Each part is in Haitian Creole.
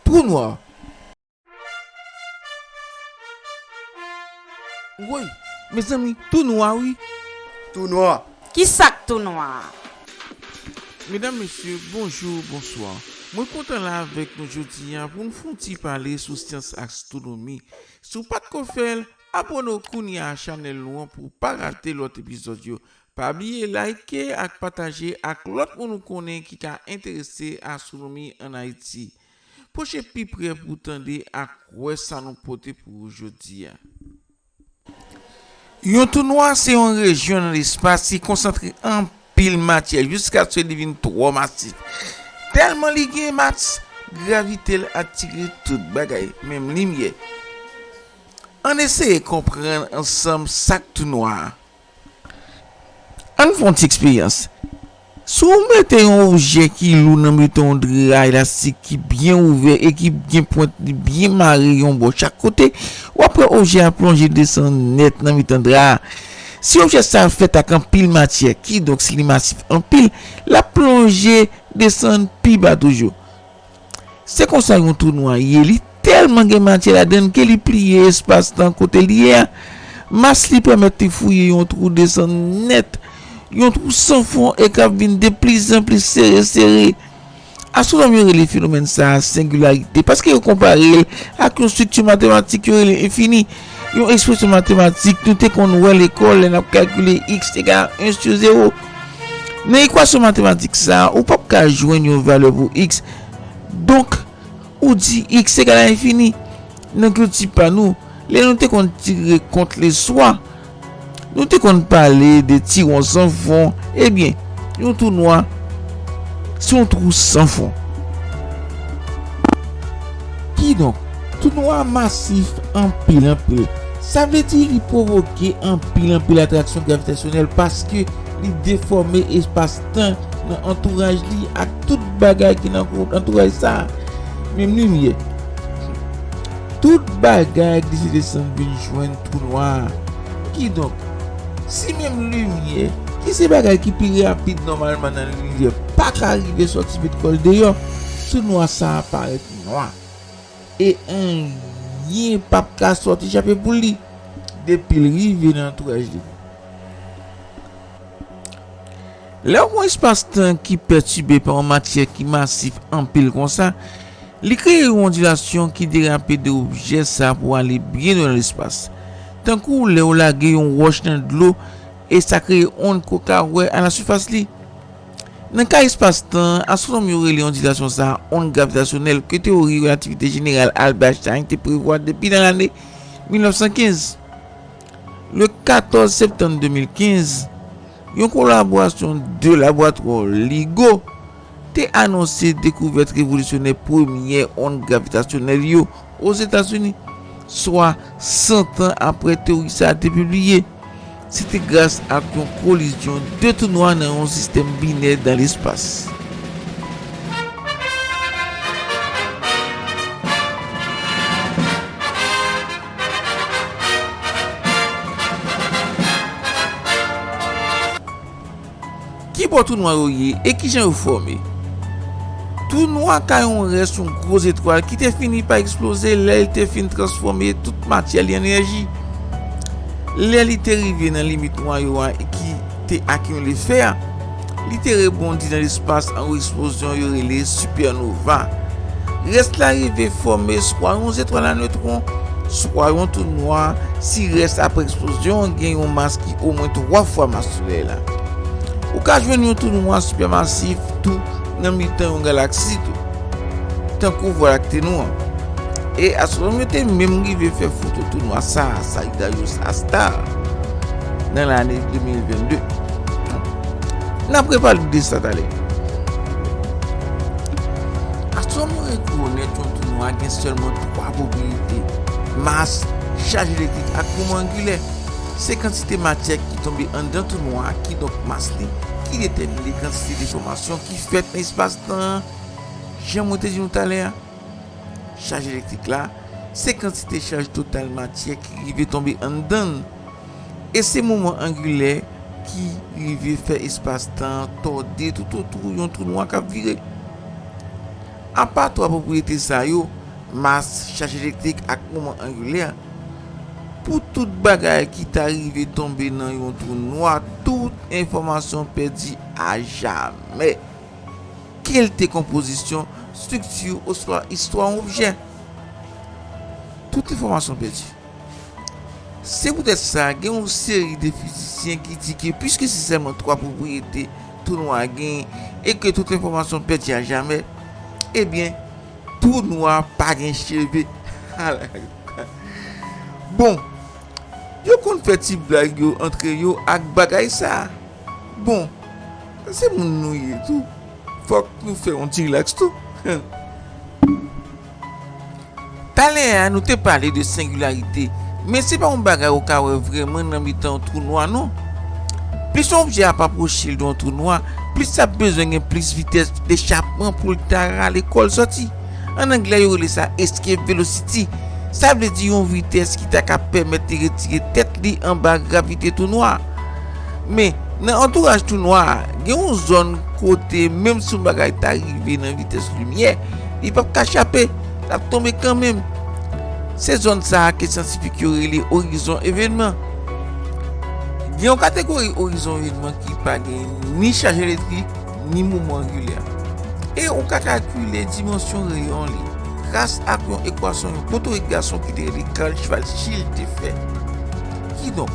Trou noir. Woy mezanmi tou nwa wi. Tou nwa. Kisak tou nwa a? Medam mesye bonjour bonswa mwen kontan la avèk nou jodi a pou nou fon ti pale sou syans astronomi si w pat ko fèl abone w kounya a chanèl nou an pou w pa rate lòt epizòd yo Pa bliye like ak pataje ak lòt moun ou konnen ki ka enterese astwonomi an Ayiti. Pwoche pi prè pou w tande ak wè sa nou pote pou ou jodi a. Yon twou nwa se yon rejyon nan lespas ki konsantre anpil matyè jiskaske li vin twò masif. Tèlman li gen mas, gravite l atire tout bagay, menm limyè. Ann eseye konprann ansanm sa k twou nwa a. An n fè yon ti eksperyans. Si w mete yon objè ki lou nan mitan yon dra elastik ki byen ouvè e ki gen pwent li byen mare yon bò chak kote, w ap wè objè a plonje desann nèt nan mitan dra a. Si objè sa a fèt ak anpil matyè, kidonk si li masif anpil, l ap plonje desann pi ba toujou. Se konsa yon twou nwa ye, li tèlman gen matyè ladann ke li pliye espas-tan kote li ye a. Mas li pèmèt li fouye yon twou desann nèt, yon twou san fon e k ap vin de plizanpli sere sere. Astwonòm yo rele fenomèn sa a sengilarite paske yo konpare l ak yon estrikti matematik yo rele enfini. Yon ekspresyon matematik nou te konn wè lekòl lè n ap kalkile x egal a 1 sou 0. Nan ekwasyon matematik sa a, ou pap ka jwenn yon valè pou x. Donk, ou di x egal a enfini. Nan kilti pa nou, lè nou te konn tire kont leswa, Nou te konn pale de ti won san fon, ebyen yon twou nwa se yon twou san fon. Kidonk, twou nwa masif anpil anpil. Sa vle di li pwovoke anpil anpil atraksyon gravitasyonèl paske li defòme espas tan nan antouraj li ak tout bagay ki nan antouraj sa a, menm limyè. Tout bagay glise desann vin jwenn Twou nwa. Kidonk, si menm limyè, ki se bagay ki pi rapid nòmalman nan linivè, pa ka rive sòti met kò l deyò, twou nwa sa a parèt nwa. E anyen p ap ka sòti chape pou li depi l rive nan antouraj li. Lè w pran espas-tan ki pètibe pa yon matyè ki masif anpil konsa, li kreye yon ondilasyon ki derape de objè sa pou ale byen lwen nan lespas. Tankou lè w lage yon wòch nan dlo e sa kreye ond ke w ka wè alasifas li. Nan ka espas-tan, astwonòm yo rele ondilasyon sa ond gravitasyonèl ke tewori relativite jeneral Albert Einstein te prevwa depi nan lane 1915. Le 14 septanm 2015, yon kolaborasyon 2 laboratwa LIGO te anonse dekouvèt revolisyonè premyè ond gravitasyonèl yo Ozetazini, swa santan apre teyori sa a te pibliye. Se te gras ak yon kolizyon 2 tou nwa nan yon sistèm binè dan lespas. Ki bò tou nwa yo ye, e ki jan yo fòme? Tou nwa ka yon rès yon gwo zetwal ki te fini pa eksploze lè li te fin transfòme tout matyè li an enèji. Lè li te rive nan limit nwayo a ki. te ak yon lefè, li te rebondi nan lespas an yon eksplozyon yo rele sipènova. Rès la rive fòme swa yon zetwal a newtwon, swa yon twou nwa si rès apre eksplozyon an gen yon mas ki omwen twa fwa mas Solèy la. Ou ka jwenn yon twou nwa sipèmasif tou nan mitan yon galaksi tou. Tankou vwa lakte nou an. E astwonòm yo te menm rive fè foto tou nwa sa a, Sagittarius A-star, nan lane 2022. N ap repale de sa talè. Astwonòm yo rekonèt yon tou nwa gen sèlman twa pwopriyete, mas, chaj elektrik ak moman angilè. Se kantite matyè ki tonbe anndan tou nwa a, kidonk mas li, ki detèmine kantite defòmasyon ki fèt nan espas la. Nan jan mwen te di nou talè a, chaj elektrik la se kantite chaj total matyè ki rive tonbe anndan l, e se moman angilè ki rive fè espas-tan an tòde toutotou yon twou nwa k ap vire. Apa twa pwopriyete sa yo, mas, chaj elektrik ak moman angilè, pou tout bagay ki ta rive tonbe nan yon twou nwa, tout enfòmasyon pèdi ajamè. kelte konpozisyon, strikti oswa istwa yon objè. Tout enfòmasyon pèdi. Se poutèt sa, gen yon seri de fizisyen ki di ke piske se sèlman twa pwopriyete twou nwa a genyen e ke tout enfòmasyon pèdi a jamè, ebyen, twou nwa a pa gen cheve. Bon, yo konn fè ti blag yo antre yo ak bagay sa a. Bon, se moun nou ye tou, fòk nou fè yon ti rilaks tou. Talè a, nou te pale de sengilarite, men se pa yon bagay ou ka wè vrèman nan mitan yon twou nwa non. Plis yon objè ap apwoche l de yon twou nwa, plis l ap bezwen gen plis vitès echapman pou l ta rale kò l sòti. An anglè, yo rele sa escape velocity, sa vle di yon vitès ki ta ka pèmèt li retire tèt li anba gravite twou nwa a. Men, nan antouraj tou nwa a, gen yon zòn kote menm si yon bagay ta rive nan vitès limyè, li pap ka chape, l ap tonbe kanmenm. Se zòn sa a ke syantifik yo rele orizon evènman. Gen yon kategori orizon evènman ki pa gen ni chaj elektrik, ni mouvman angilè. E ou ka kalkile dimansyon reyon li gras ak yon ekwasyon yon potorik gason ki te rele Carl Schwarzschild te fè. Kidonk.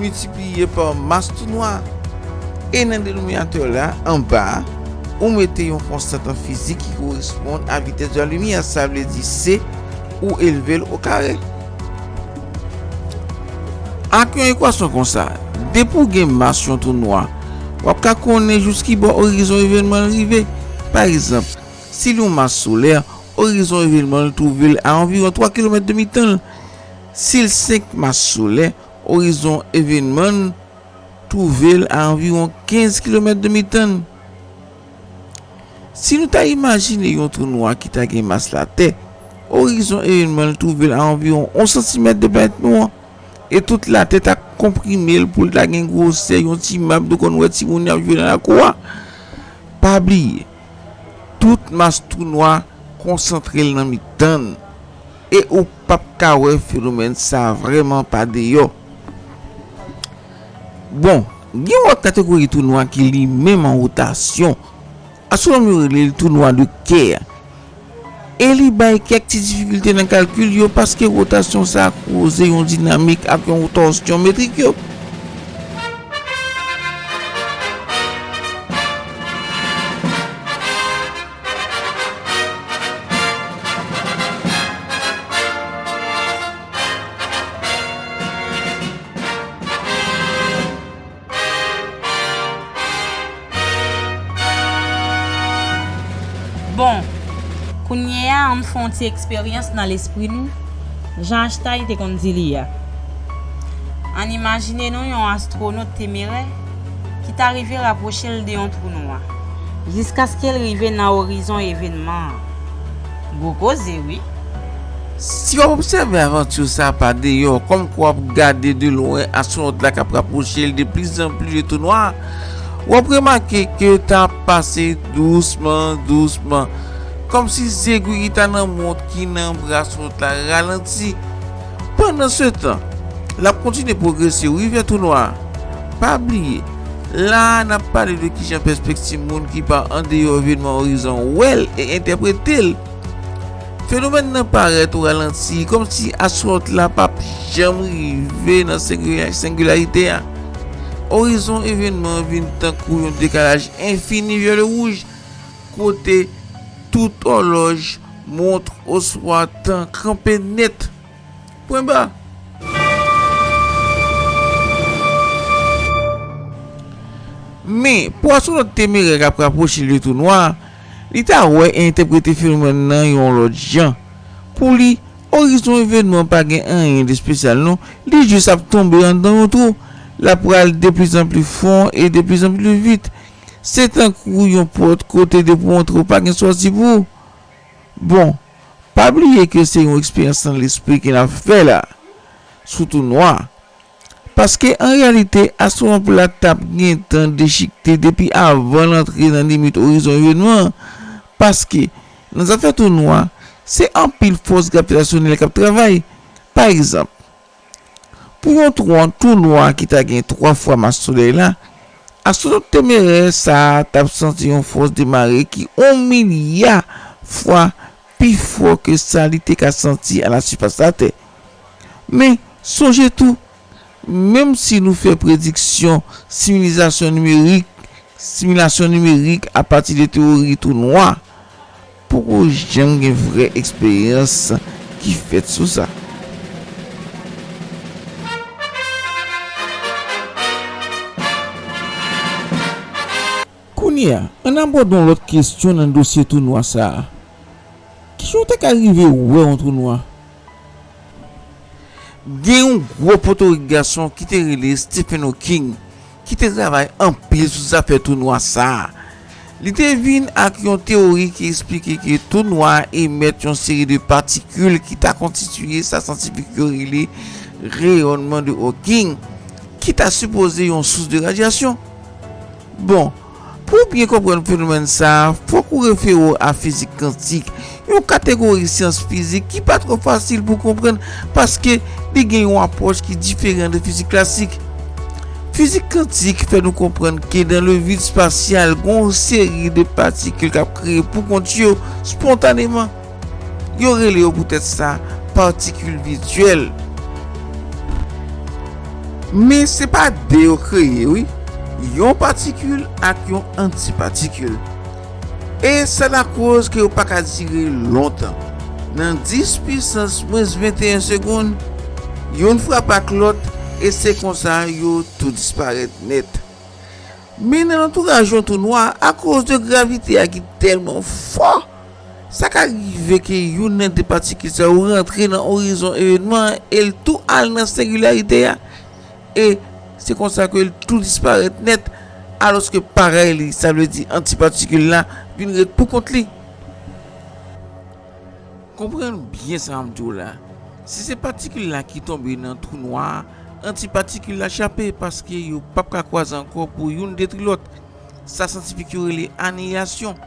Miltipliye pa mas tounwa. E nan denominatè la, anba, ou mete yon konstant an fizik ki koresponn a vitès de la limyè, sa vle di C, ou elve l okare. Ak yon ekwasyon konsa, depi ou gen mas yon tounwa, w ap ka konnen jouskibò orizon evènman l rive. Pa egzanp, si l yon mas solè, orizon evènman l twouve l a anviwon 3 kilomèt de mitan l. Sil 5 mas solè, orizon evenman n twouve l a anviwon 15 kilomèt de mitan n. Si nou ta imajine yon twou nwa ki ta gen mas Latè, orizon evenman l twouve l a anviwon 1 santimèt de planèt nou an, e tout Latè ta konprime l pou l ta gen gwosè yon ti map nou konn wè timoun y ap jwe nan lakou a. Pa bliye, tout mas twou nwa konsantre l nan mitan n. E ou pap ka wè fenomèn sa vrèman pa deyò. Bon, gen yon lòt kategori twou nwa ki li menm an wotasyon. Astwonòm yo rele li twou nwa de kè. E li bay kèk ti difikilte nan kalkil yo paske wotasyon sa koze yon dinamik ak yon tòsyon metrik yo. Bon, kounye a an m fè yon ti eksperyans nan lespri nou, jan Einstein te konn di li a. Ann imajine nou yon astwonot temerè. ki ta rive rapwoche l de yon twou nwa, jiskaske l rive nan orizon evènman an. Gwo koze wi! Si w ap obsève avantur sa a pa deyò, kòmkwa w ap gade de lwen astwonòt la k ap rapwoche l de pli zan pli de twou nwa a, w ap remake ke l ta ap pase dousman dousman, kòmsi zegwi ki ta nan mont ki nan bra astwonòt la ralanti. Pandansetan, l ap kontinye pwogrese wi vè tou nwa a. Pa bliye, la a n ap pale de kijan pèspekti moun ki pa andeyò evenman orizon wè l e entèprete l. Fenomèn nan parèt ou ralanti, kòmsi aswòlt la pa p janm rive nan sengilarite a. Orizon evenman an vin tankou yon dekalaj enfini vyolewouj kote tout òlòj. Mont oswa tan kanpe nèt. Pwen ba. Men, pou astwonòt temerè k ap rapwoche l de twou nwa a, li ta wè e entèprete fenomèn nan yon lòt jan. Pou li, orizon evènman an pa gen anyen de espesyal non, li jis ap tonbe anndan yon twou, l ap pral deplizanpli fon e deplizanpli vit. Se tankou yon pòt kote depi w antre w pa gen sòti pou ou. Bon, pa bliye ke se yon eksperyans nan lespri ke n ap fè la, sou tou nwa. Paske an reyalite, astwonot la t ap gentan dechikte depi avan l antre nan limit orizon evènman an, paske nan zafè tou nwa, se anpil fòs gravitasyonèl k ap travay. Pa egzanp. pou yon twon tou nwa ki ta gen twa fwa mas Solèy la, astwonòt temerè sa a t ap santi yon fòs de mare ki on milya fwa pi fò ke sa li te ka santi alasifas Latè. Men, sonje tou, menmsi nou fè prediksyon sivilizasyon nimerik Similasyon nimerik a pati de tewori twou nwa poko janm gen vrè eksperyans ki fèt sou sa. Kounye a, ann abòde yon lòt kesyon nan dosye twou nwa sa a, Kijan w ta ka rive wè yon twou nwa? Gen yon gwo potorik gason ki te rele Stephen Hawking ki te travay anpil sou zafè twou nwa sa a. Li te vin ak yon teyori ki esplike ke twou nwa emèt yon seri de patikil ki ta konstitiye sa syantifik yo rele reyònman de Hawking ki ta sipoze yon sous de radyasyon. Bon. Pou w byen konprann fenomèn sa a, fòk ou refere w a fizik kantik, yon kategori syans fizik ki pa twò fasil pou konprann paske li gen yon apwòch ki diferan de fizik klasik. Fizik kantik fè nou konprann ke nan le vid spasyal gen yon seri de patikil k ap kreye poukont yo, spontaneman. Yo rele yo poutèt sa patikil vityèl. Men se pa de yo kreye wi, yon patikil ak yon antipatikil. E sa lakoz ke yo pa ka dire lontan. Nan 10 pisans mwens 21 segonn, youn frape ak lòt e se konsa yo tou disparèt nèt. Men nan lantouraj yon tou nwa, akoz de gravite a ki tèlman fò, Sa ka rive ke youn nan de patikil sa yo rantre nan orizon evènman an e l tou al nan sengilarite a, e se konsa ke l tou disparèt nèt, alòske parèy li, sa vle di antipatikil la, vin ret pou kont li. Konprann byen sa m di w la, si se patikil la ki tonbe nan twou nwa a, antipatikil la chape paske yo p ap ka kwaze ankò pou youn detri lòt, sa syantifik yo rele aniyasyon.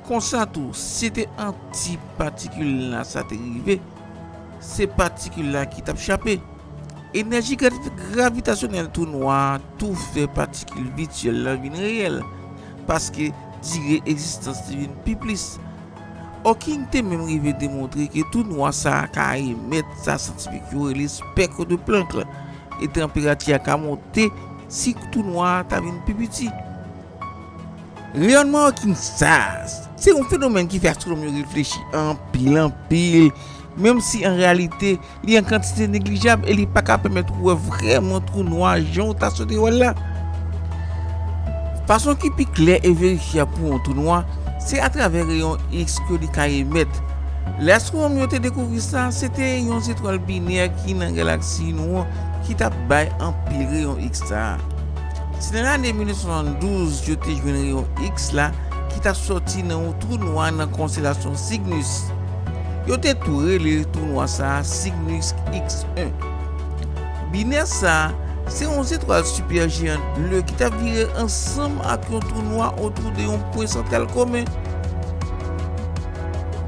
Konsa tou, si te anti patikil la sa te rive, se patikil la ki t ap chape. Enèji gravitasyonèl twou nwa a tou fè patikil vityèl la vin reyèl, paske dire egzistans li vin pi plis. Hawking te menm rive demontre ke twou nwa sa a ka emèt sa syantifik yo rele spectre de Planck, e tanperati a ka monte si twou nwa a ta vin pi piti. Reyònman Okinsas se yon fenomèn ki fè astwonòm yo reflechi anpil anpil, menm si an reyalite li an kantite neglijab e li pa ka pèmèt ou wè vrèman twou nwa jan ou ta swete wè l la. Fason ki pi klè e verifyab pou yon twou nwa se atravè reyon X ke li ka emèt. Lè astwonòm yo te dekouvri sa, se te yon zetwal binè ki nan galaksi nou an ki t ap bay anpil reyon X sa a. Se nan lane 1972 yo te jwenn reyon X la ki t ap sòti nan yon twou nwa nan konstelasyon Cygnus. Yo te tou rele twou nwa sa a Cygnus X-1. Binè sa a se yon zetwal sipèjeyant ble ki t ap vire ansanm ak yon twou nwa otou de yon pwen santral komen.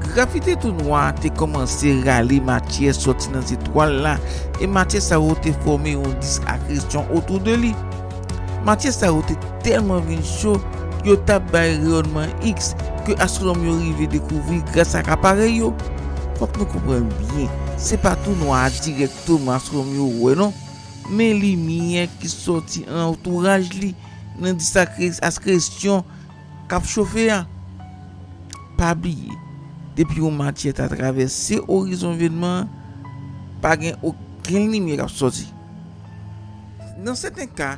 Gravite tou nwa a te kòmanse rale matyè sòti nan zetwal la e matyè sa yo te fòme yon dis akresyon otou de li. Matyè sa yo te tèlman vin cho, yo t ap bay reyònman X ke astwonòm yo rive dekouvri gras ak aparèy yo. Fòk nou konprann byen, se pa tou nwa a dirèkteman astwonòm yo wè non, men limyè ki sòti nan antouraj li, nan dis akresyon, kap chofe a. Pa bliye, depi yon matyè ta travèse orizon evenman an, pa gen okenn limyè kap sòti. Nan sèten ka,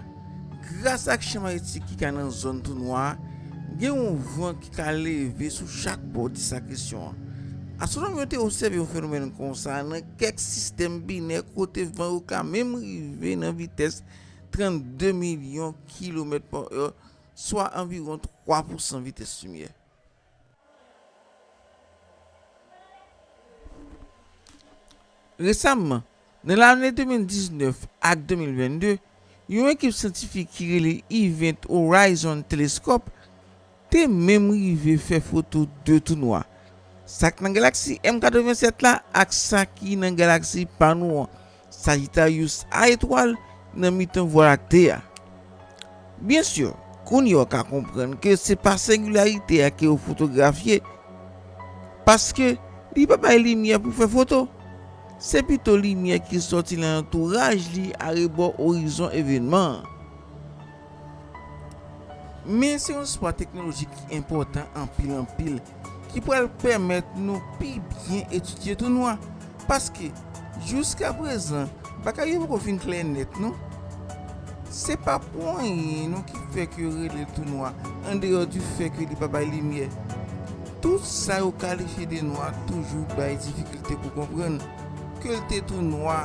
gras ak chan magnetik ki ka nan zòn tou nwa a, gen yon van ki ka leve sou chak bò disk akresyon an. Astwonòm yo te obsève yon fenomèn konsa nan kèk sistèm binè kote van yo ka menm rive nan vitès 32 milyon kilomèt pa è, swa anviwon 3 pousan vitès limyè. Resamman, nan lane 2019 ak 2022, yon ekip syantifik ki rele Event Horizon Telescope te menm rive fè foto de tou nwa, sa k nan galaksi M87 la ak sa ki nan galaksi pa nou an, Sagittarius a etwal nan mitan Vwa Lakte a. Byen sur, kounye w ka konprann ke se pa sengilarite a ke ou fotografye, paske li pa bay limyè pou fè foto. Se pito limyè ki sòti nan antouraj li arebò orizon evenman an. Men se yon sipò teknolojik ki enpòtan anpil anpil ki pral pèmèt nou pi byen etidye tou nwa paske jouska prezan bagay yo poko vin klè nèt non. Se pa pou anyen non ki fè ke yo rele l tou nwa andeyò di fè ke li pa bay limyè. Tout sa yo kalifye de nwa toujou bay difikilte pou konprann. ke l te tou nwa,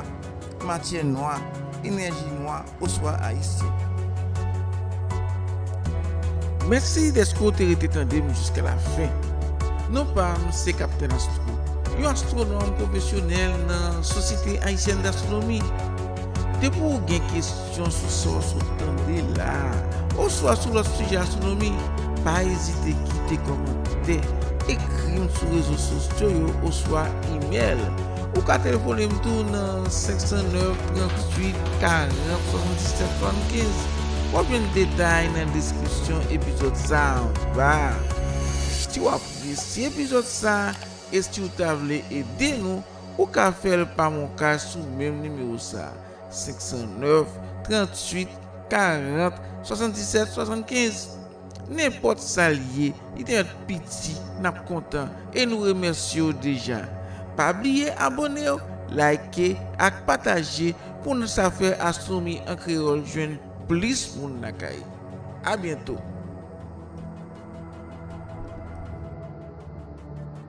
matyè nwa, enèji nwa oswa Ayisyen. Mèsi dèske w te rete tande m jiska lafen. Non pa m se Kaptenn Astro, yon astwonòm pwofesyonèl nan Sosyete Ayisyèn Dastwonomi. Depi w gen kesyon, Kesyon sou sa w sot tande la a, oswa sou lòt sijè astwonomi, pa ezite kite kòmantè, ekri m sou rezo sosyo yo oswa imèl. Ou ka telefone m tou nan 509 38 40 77 75. W ap jwenn detay nan deskripsyon epizòd sa a anba a. Si w apresye epizòd sa a e si w ta vle ede nou, ou ka fè l pa MonCash sou menm nimewo sa a. 509, 38, 40, 77, 75 Nenpòt sa l ye, li te ant piti, n ap kontan e nou remèsye w deja. Pa bliye abone w, like ak pataje pou n sa fè Astronomi an Kreyòl jwenn plis moun lakay. A byento!